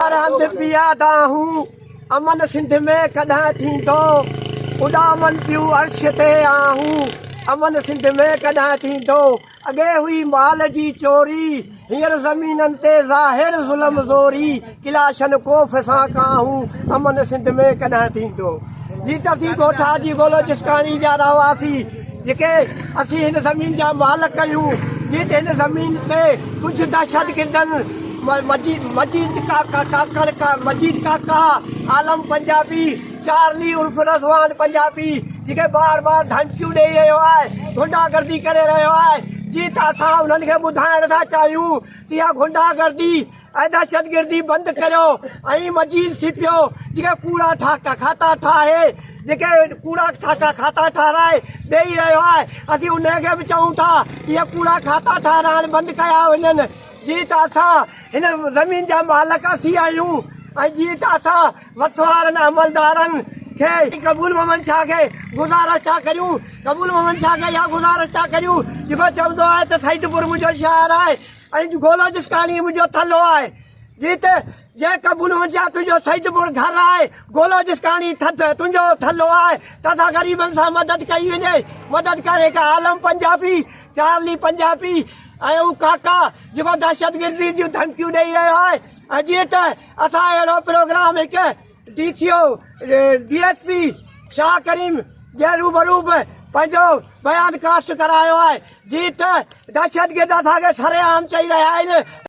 سرهند پيادا هون امن سنڌ ۾ ڪڏهن ٿيندو اڏامن پيون عرش تي آهون امن سنڌ ۾ ڪڏهن ٿيندو اڳي هئي مال جي چوري هينئر زمينن تي ظاهر ظلم زوري ڪلاشن ڪوف سان ڪاهون امن سنڌ ۾ ڪڏهن ٿيندو جي ٽسي ڳوٺا جي بلوچستاني جا رهواسي جيڪي اسين هن زمين جا مالڪ آهيون، جيت هن زمين تي ڪجهه دهشتگردن مجيد ڪاڪا، عالم پنجابي، چارلي عرف رضوان پنجابي جيڪي بار بار ڌمڪيون ڏئي رهيو آهي، غنڊا گردي ڪري رهيو آهي، جيت اسان انهن کي ٻڌائڻ ٿا چاهيون ته اها غنڊا گردي اي دهشتگردي بند ڪريو ۽ مجيد سيپيو جيڪي ڪوڙا ٺاڪا کاتا ٺاهي جيڪي ڪوڙا ٺاڪا کاتا ٺاهرائي ڏيئي رهيو آهي اسين ان کي به چئون ٿا اهي ڪوڙا کاتا ٺاهرائڻ بند ڪيا وڃن جي ته اسان هن زمين جا مالڪ اسين آهيون ۽ جي ته اسان وسوارن عملدارن کي قبول محمد شاهه کي گذارش ٿا ڪريون قبول محمد شاهه کي اها گذارش ٿا ڪريون جيڪو چوندو آهي ته سعيد پور منهنجو شهر آهي اڄ گولوجستاني منهنجو ٿلهو آهي جيت جنهن قبول هجيا تنهنجو سيد پور گهر آهي گولوجستاني ٿڌ تنهنجو ٿلهو آهي تسا غريبن سان مدد ڪئي وڃي مدد ڪر هڪ عالم پنجابي چارلي پنجابي ۽ هو ڪاڪا جيڪو دهشتگردي جون ڌمڪيون ڏئي رهيو آهي ۽ جيت اسان اهڙو پروگرام هڪ D C O D S P Shah Karim جي روبرو به پنهنجو بيان ڪاسٽ ڪرايو آهي جي ته دهشتگرد اسان کي سرعام چئي رهيا آهن ته